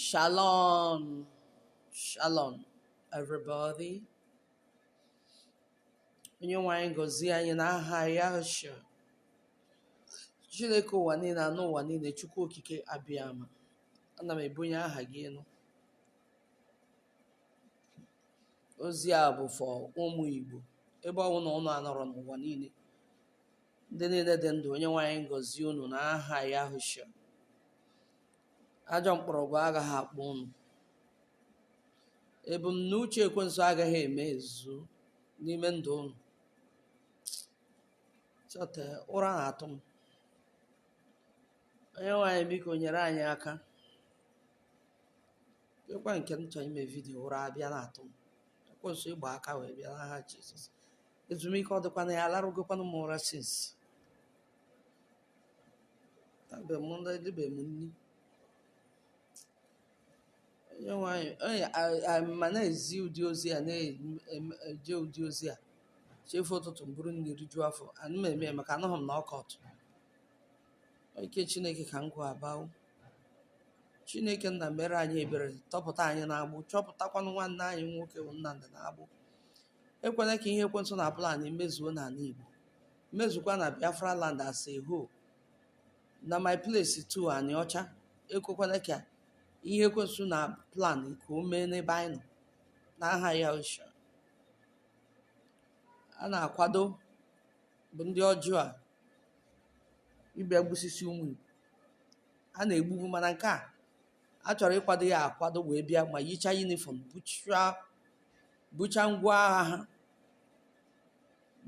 Shalom. Shalom, everybody. Onye nwe anyị gọzie anyị n'aha Yahusha. Chineke ụwa niile anụ ụwa niile Chukwu Okike Abịama. Ana m ebunye aha gị elu. Ozi a bụ for ụmụ Igbo ebe ọ bụla ụnụ anọrọ n'ụwa niile. ndị niile dị ndụ onye nwe anyị gọzie unu n'aha Yahusha ajọ mkpọrọgwụ agaghị akpọ unu ebumnuche ekwensu agaghị emezu n'ime ndụ unu chọta ụra na-atụ m onye nwe anyị biko nyere anyị aka ọ kwa nke m chọrọ ime vidiyo ụra abịa na-atụ m ekwensu ị gba aka wee bịa n'aha jizọs ezumike ọ dịkwa na ya alarụgokwanụ m ụra since tabe m ndị dịbe m nri onye nwe anyị onye a- a- ma na-ezi ụdị ozi a na-eje ụdị ozi a chi fo ụtụtụ m buru nri rijuo afọ ana m eme ya maka anụghị m na ọka ọtụ ike chineke ka m gụọ abawo chineke nna mere anyị ebere tọpụta anyị n'agbụ tọpụtakwanụ nwanne anyị nwoke bụ nnamdị n'agbụ ekwela ka ihe ekwensu na-plan mezuo n'ala Igbo mezukwa na Biafra land as a whole na my place too Aniocha ekwekwala ka ihe ekwensu na-plan ka o mee n'ebe anyị nọ n'aha Yahusha a na-akwado bụ ndị ọjọọ a ịbịa gbusisia ụmụ Igbo a na-egbubu mana nke a a chọrọ ịkwado ya akwado wee bịa ma yichaa yunifọm bucha ngwa agha ha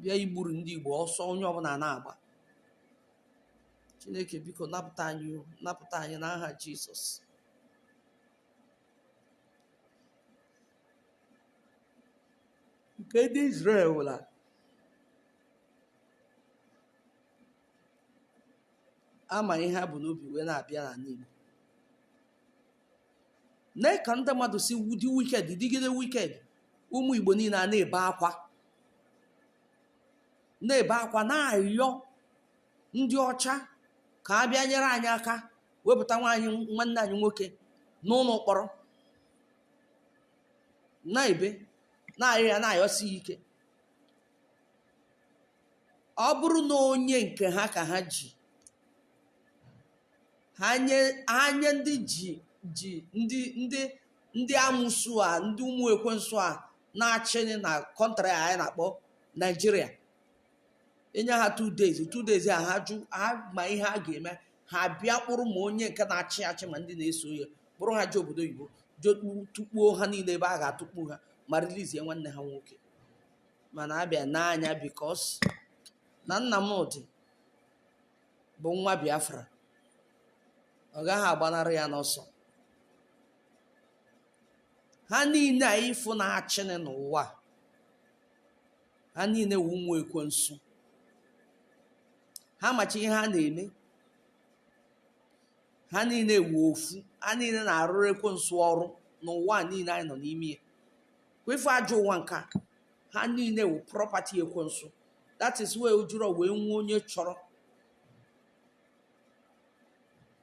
bịa igburu ndị Igbo ọsọ onye ọbụla na-agba Chineke biko napụta anyị n'aha Jizọs nke ndị Izrel wụla ama ihe ha bu n'obi wee na-abịa n'ala Igbo lee ka ndị mmadụ si dị wicked dịgide wicked ụmụ Igbo niile a na-ebe akwa na-ebe akwa na-arịọ ndị ọcha ka ha bịa nyere anyị aka wepụta nwaanyị nwanne anyị nwoke n'ụlọ mkpọrọ na-ebe na-arịọ ya na-ayọsi ike ọ bụrụ na onye nke ha ka ha ji ha nye ha nye ndị ji ji ndị ndị ndị amụsu a ndị ụmụ ekwensu a na-achị na kọntrị a anyị na-akpọ naijiria enye ha two days two days a ha jụ ha ma ihe a ga-eme ha bịa kpụrụ ma onye nke na-achị achị ma ndị na-eso ya kpụrụ ha je obodo oyibo jekpu tukpuo ha niile ebe a ga-atụkpu ha ma rilizie nwanne ha nwoke mana abịa n'anya bikos na nnamdị bụ nwa biafra ọ gaghị agbanarị ya n'ọsọ ha niile a ị fụ na-achịnị n'ụwa ha niile wu ụmụ ekwensu ha macha ihe ha na-eme ha niile wu ofu ha niile na-arụrụ ekwensu ọrụ n'ụwa niile anyị nọ n'ime ya kwa ife ajọ ụwa nke a ha niile wụ prọpati ekwensu that is why o jirọ wee nwee onye chọrọ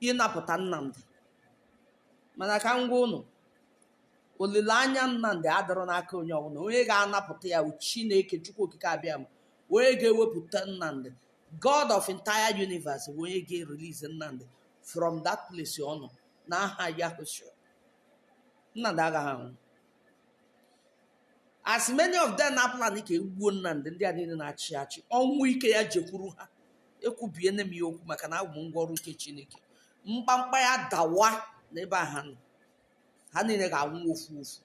ịnapụta nnamdị mana ka m gwa ụnụ olileanya nnamdị adịrọ n'aka onye ọbụla onye ga-anapụta ya chineke chukwu okike abịama onye ga-ewepụta nnamdị god of entire universe bụ onye ga-erelease nnamdị from that place ọ nọ n'aha yahushua nnamdị agaghị anwụ as many of them na-aplan ka egbuo Nnamdi ndị a niile na-achị achị ọnwụ ike ya jekwuru ha ekwubiene m ya okwu maka na awụ m ngwa ọrụ nke Chineke mkpamkpa ya dawa n'ebe a ha nọ ha niile ga-anwụ ofu ofu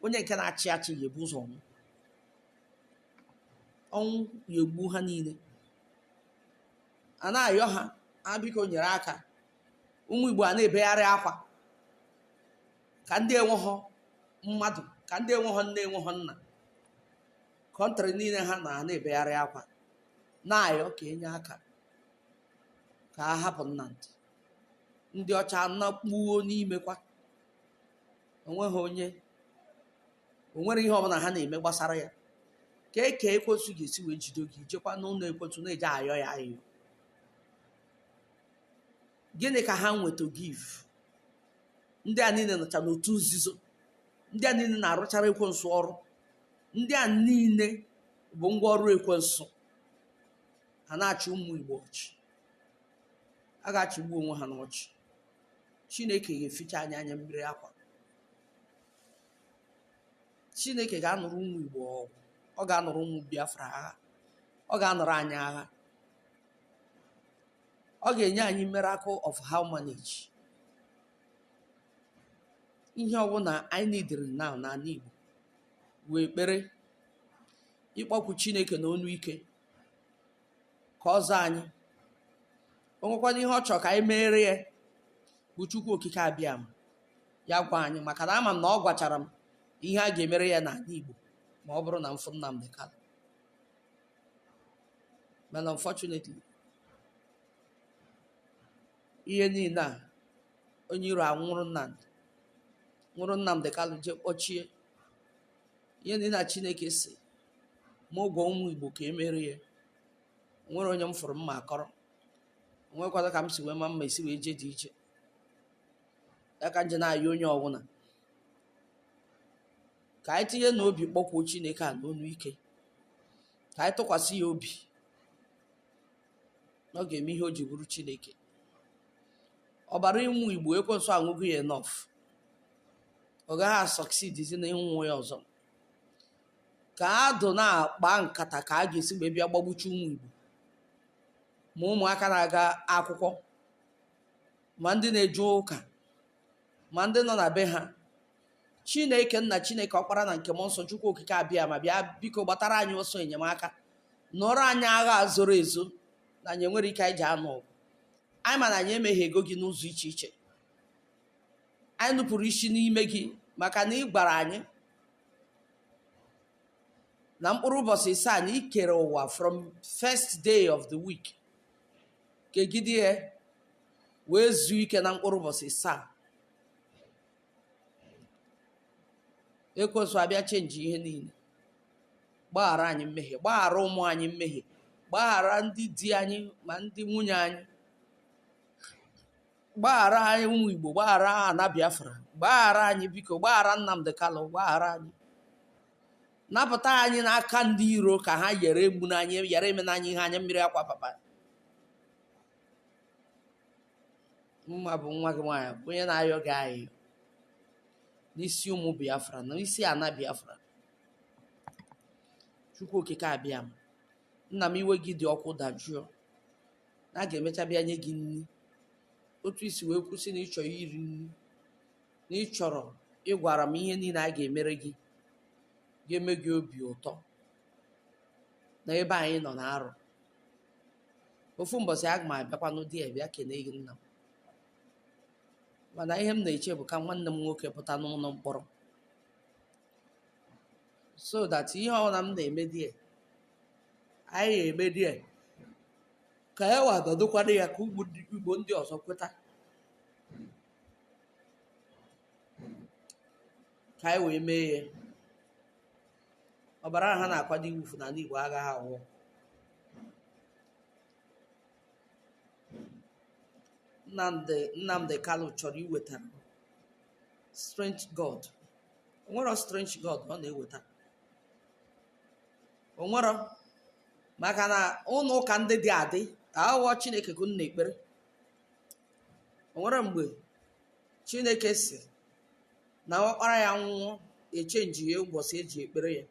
onye nke na-achị achị ya ebu ụzọ nwụọ ọnwụ ya egbu ha niile a na-ayọ ha ha biko nyere aka ụmụ Igbo a na-ebegharị akwa ka ndị enweghọ mmadụ ka ndị enweghọ nne enweghọ nna kọntrị niile ha nọ na-ebegharị akwa na-ayọ ka enye aka ka a hapụ Nnamdi ndị ọcha nakpuo n'ime akwa onweghị onye onwere ihe ọbụla ha na-eme gbasara ya kee ka ekwensu ga-esi wee jide gị i jekwa n'ụlọ ekwensu na-eje ayọ ya ayọ gịnị ka ha nwe to give ndị a niile nọcha n'otu nzuzo ndị a niile na-arụchara ekwensu ọrụ ndị a niile bụ ngwa ọrụ ekwensu ha na-achị ụmụ igbo ọchị a ga-achịgbu onwe ha n'ọchị chineke ga-eficha anyị anya mmiri akwa chineke ga-anụrụ ụmụ igbo ọgụ ọ ga-anụrụ ụmụ biafra agha ọ ga-anụrụ anyị agha ọ ga-enye anyị miracle of how manage ihe ọbụla anyị nidiri now n'ana Igbo wụ ekpere ịkpọkwu Chineke na onu ike ka ọ zaa anyị o nwekwanụ ihe ọ chọrọ ka anyị meere ya bụ Chukwu Okike Abịama ya gwa anyị maka na ama m na ọ gwachara m ihe a ga-emere ya n'ana Igbo ma ọ bụrụ na m fụ Nnamdi Kanu mana unfortunately ihe niile a onye iro anwụrụ Nnamdi nwụrụ Nnamdi Kanu jee kpọchie ihe niile a Chineke sị mụ gwa ụmụ Igbo ka e meere ya nwere onye m fụrụ m ma-akọrọ o nwekwadụ ka m si wee ma m ma-esi wee jee dị iche ya ka m ji na-ayọ onye ọbụla ka anyị tinye n'obi kpọkwuo chineke a n'onu ike ka anyị tụkwasị ya obi na ọ ga-eme ihe o ji bụrụ chineke ọbara ụmụ igbo ekwensu aṅụgo ya enough ọ gaghị asọksidizi na ịṅụ ya ọzọ ka a dụ na-akpa nkata ka a ga-esi wee bịa gbagbucha ụmụ igbo ma ụmụaka na-aga akwụkwọ ma ndị na-eje ụka ma ndị nọ na be ha chineke nna chineke ọkpara na nke mmụọ nsọ chukwu okike abịama bịa biko gbatara anyị ọsọ enyemaka nụọrọ anyị agha a zoro ezo na anyị enwerọ ike anyị ji anụ ọgụ anyị ma na anyị emehiego gị n'ụzọ iche iche anyị nupụrụ isi n'ime gị maka na ị gwara anyị na mkpụrụ ụbọchị isaa na i kere ụwa from first day of the week kegide ya wee zuo ike na mkpụrụ ụbọchị isaa ekwensu abịa chenji ihe niile gbaghara anyị mmehie gbaghara ụmụ anyị mmehie gbaghara ndị di anyị ma ndị nwunye anyị gbaghara anyị ụmụ igbo gbaghara ana biafra gbaghara anyị biko gbaghara nnamdi kanu gbaghara anyị napụta anyị n'aka ndị iro ka ha yere egbuna anyị yere emena anyị ihe anya mmiri akwa papa mụwa bụ nwa gị nwaanyị bụ onye na-ayọ gị ayịyọ n'isi ụmụ biafra na isi ana biafra chukwu okike abịama nna m iwe gị dị ọkụ dajụọ na a ga-emecha bịa nye gị nri otu i si wee kwuo sị na ị chọrọ iri nri na ị chọrọ ị gwara m ihe niile a ga-emere gị ga-eme gị obi ụtọ na ebe anyị nọ na-arụ ofu mbọsị aga m abịakwa n'ụdị ya bịa kenee gị nna m mana ihe m na-eche bụ ka nwanne m nwoke pụta n'ụlọ mkpọrọ so that ihe ọbụla m na-eme di ya anyị ga-eme di ya ka ya wa nọdụkwa na ya ka Igbo ndị- Igbo ndị ọzọ kweta ka anyị wee mee ya ọbara ahụ ha na-akwado iwufu n'ala Igbo agaghị awụ Nnamdi Nnamdi Kanu chọrọ iweta strange god onwero strange god ọ na-eweta onwero maka na ụlọ ụka ndị dị adị awụghị Chineke ka unu na-ekpere onwere mgbe Chineke sị na ọkpara ya nwụọ echenjie ụbọchị eji ekpere ya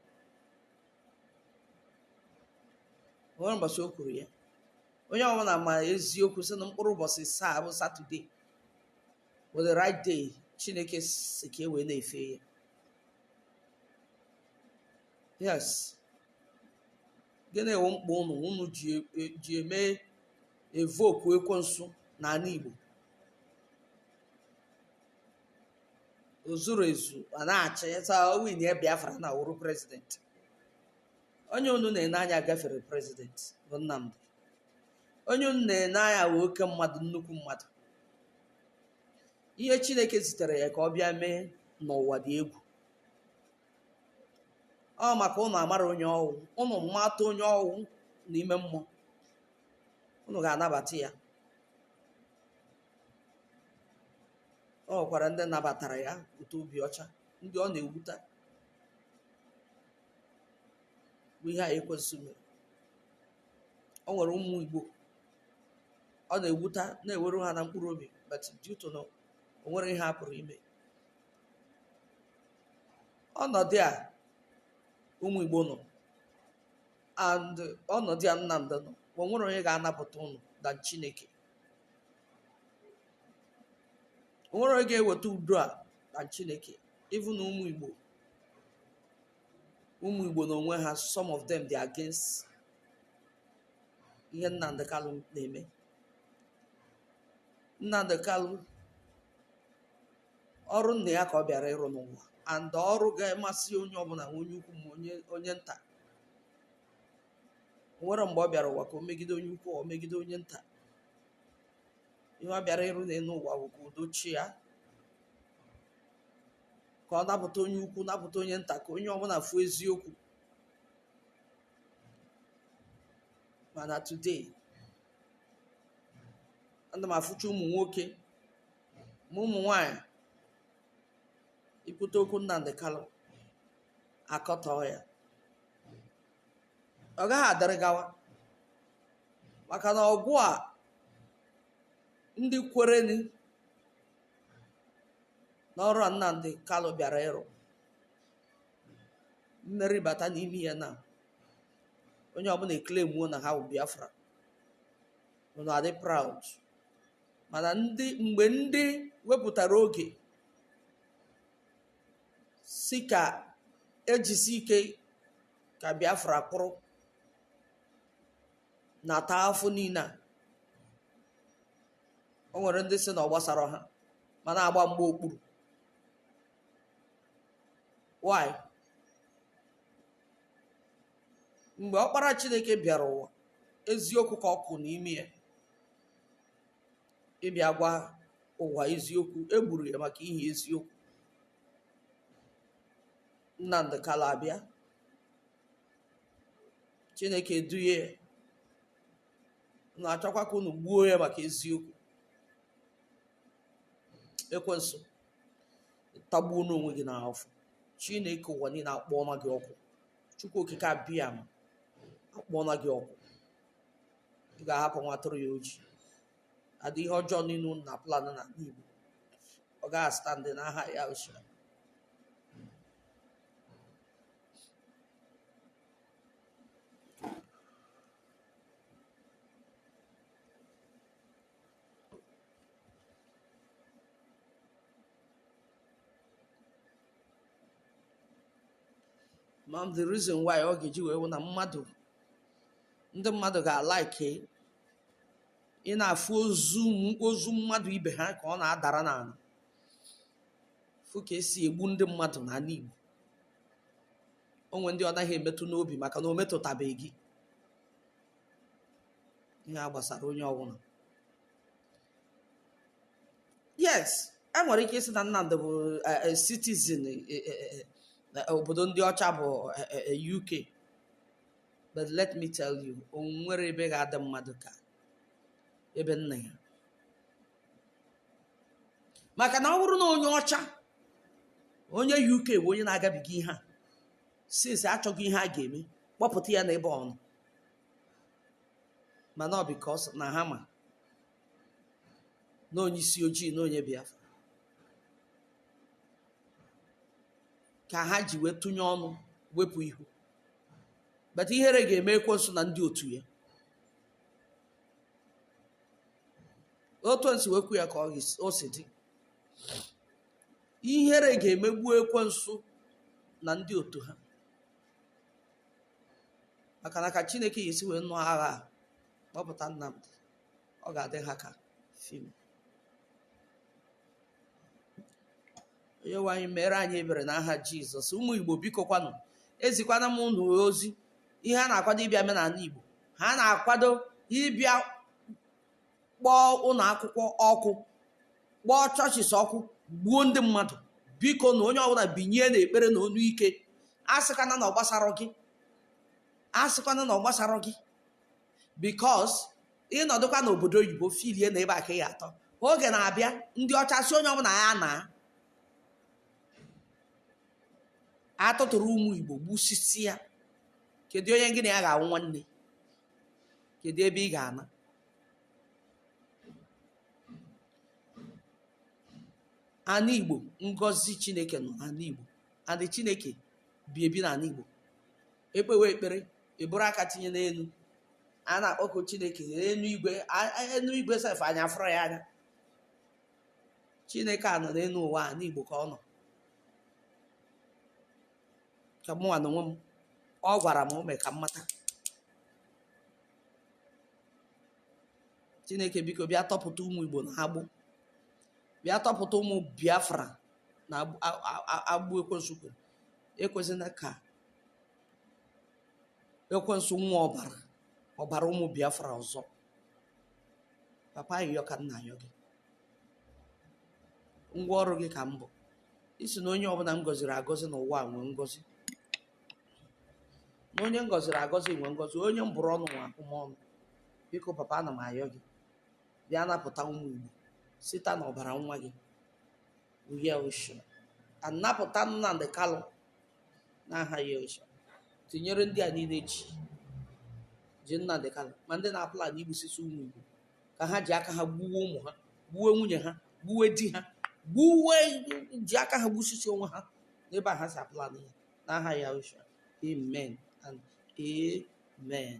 onwere ụbọchị o kwuru ya onye ọbụla ma eziokwu sị na mkpụrụ ụbọchị asaa bụ Saturday bụ the right day chineke sị ka e wee na-efe ya yes gịnị wụ mkpa ụnụ ụnụ ji eme evoke ekwensu n'ala igbo o zuru ezu ọ na-achị sị o win ya biafra na wụrụ president onye unu na-ene anya gafere president bụ Nnamdi onye unu na-ene anya wụ oke mmadụ nnukwu mmadụ ihe chineke zitere ya ka ọ bịa mee n'ụwa dị egwu ọ maka ụnụ amara onye ọ wụ ụnụ mata onye ọ wụ n'ime mmụọ ụnụ ga-anabata ya ọ nwekwara ndị nabatara ya with obi ọcha ndị ọ na-ewuta bụ ihe a ekwensu mere ọ nwere ụmụ igbo ọ na-ewuta na-ewere ha na mkpụrụ obi but due to na o nwere ihe a pụrụ ime ọnọdụ a ụmụ igbo nọ and ọnọdụ a Nnamdi nọ o nwere onye ga-anapụta ụnụ than chineke o nwere onye ga-eweta udo a than chineke even na ụmụ igbo ụmụ igbo na onwe ha some of them dey against ihe Nnamdi Kalu na-eme Nnamdi Kalu ọrụ nna ya ka ọ bịara ịrụ n'ụwa and ọrụ ga-amasị onye ọbụla ma onye ukwu ma onye onye nta o nwere mgbe ọ bịara ụwa ka o megide onye ukwu o megide onye nta ihe ọ bịara ịrụ n'elu ụwa bụ ka udo chịa ka ọ napụta onye ukwu napụta onye nta ka onye ọbụla fụ eziokwu mana today ana m afụcha ụmụ nwoke ma ụmụ nwanyị ị kwute okwu Nnamdi Kanu akọtọọ ya ọ gaghị adịrị gawa maka na ọgụ a ndị kwereni n'ọrụ a Nnamdi Kanu bịara ịrụ mmeri bata n'ime ya na onye ọbụla e-claimuo na ha bụ Biafra unu adị proud mana ndị mgbe ndị wepụtara oge sị ka e jisie ike ka biafra kwụrụ na-ata afụfụ niile a o nwere ndị sị na ọ gbasara ha ma na-agba mgba okpuru why mgbe ọkpara chineke bịara ụwa eziokwu ka ọ kụ n'ime ya ịbịa gwa ụwa eziokwu e gburu ya maka ihe eziokwu Nnamdi Kanu abịa Chineke eduye ya na-achọkwa ka unu gbuo ya maka eziokwu ekwensu tagbuonụ onwe gị n'afụfụ Chineke ụwa niile akpọọla gị ọkụ Chukwu okike Abiama akpọọla gị ọkụ ị ga-ahapụ nwa atụrụ ya oji adị ihe ọjọọ niile unu na-aplan na igbo ọ gaghị a-stand n'aha ya ochie ma the reason why ọ ga-eji wee wụ na mmadụ ndị mmadụ ga-alike ịna-afụ ozu ozu mmadụ ibe ha ka ọ na-adara n'ala fụ ka e si egbu ndị mmadụ n'ala Igbo o nwe ndị ọ naghị emetụ n'obi maka na o metụtabeghị gị ihe a gbasara onye ọbụla yes e nwere ike ịsị na Nnamdị bụ eh, eh, citizen eh, obodo ndị ọcha bụ UK but let me tell you o nwere ebe ga-adị mmadụ ka ebe nna ya maka na ọ bụrụ na onye ọcha onye uk bụ onye na-agabiga ihe a since achọgo ihe a ga-eme kpọpụta ya n'ebe ọ nọ mana ọ because na ha ma na onye isi ojii na onye biafra ka ha ji wee tụnye ọnụ wepụ ihu but ihere ga-eme ekwensu na ndị otu ya otu m si wee kwuo ya ka o si dị ihere ga-emegbu ekwensu na ndị otu ha maka na ka chineke ga-esi wee nụọ agha a kpọpụta Nnamdi ọ ga-adị ha ka film onye nwe anyị meere anyị ebere na aha jizọs ụmụ igbo biko kwanụ ezikwana m unu ozi ihe a na-akwado ịbịa mee n'ala igbo ha na-akwado ịbịa kpọọ ụlọ akwụkwọ ọkụ kpọọ churches ọkụ gbuo ndị mmadụ bikonu onye ọbụla binie na ekpere na onu ike asịkwana na ọ gbasara gị asịkwana na ọ gbasara gị because ị nọdụkwa n'obodo oyibo filie na ebe a ka ị ga-atọ oge na-abịa ndị ọcha sị onye ọbụla ya naa a tụtụrụ ụmụ igbo gbusisịa kedu onye gị na ya ga-awụ nwanne kedu ebe ị ga-ana ana igbo ngọzi chineke nọ n'ana igbo and chineke bi ebi na ana igbo e kpewe ekpere e buru aka tinye n'elu a na-akpọku chineke enu igwe a- a- enu igwe sef anyị afụrọ ya anya chineke a nọ n'elu ụwa a n'igbo ka ọ nọ ka mụnwa na onwe m ọ gwara m mee ka m mata chineke biko bịa tọpụta ụmụ igbo na agbụ bịa tọpụta ụmụ biafra na agbụ ekwensu kere ekwezina ka ekwensu ṅụa ọbara ọbara ụmụ biafra ọzọ papa ayịyọ ka m na-ayọ gị ngwa ọrụ gị ka m bụ ị sị na onye ọbụla m gọziri agọzi n'ụwa a nwee ngọzi na onye m gọziri agọzi nwee ngọzi onye m bụrụ ọnụ nwee abụmọnụ biko papa ana m ayọ gị bịa napụta ụmụ igbo site na ọbara nwa gị yeshua napụta nnamdi kalụ n'aha Yahusha tinyere ndị a niile ji ji Nnamdi Kanu ma ndị na-aplan igbusisi ụmụ Igbo ka ha ji aka ha gbuwe ụmụ ha gbuwe nwunye ha gbuwe di ha gbuwe ji aka ha gbusisi onwe ha n'ebe a ha si aplan ya n'aha Yahusha amen and amen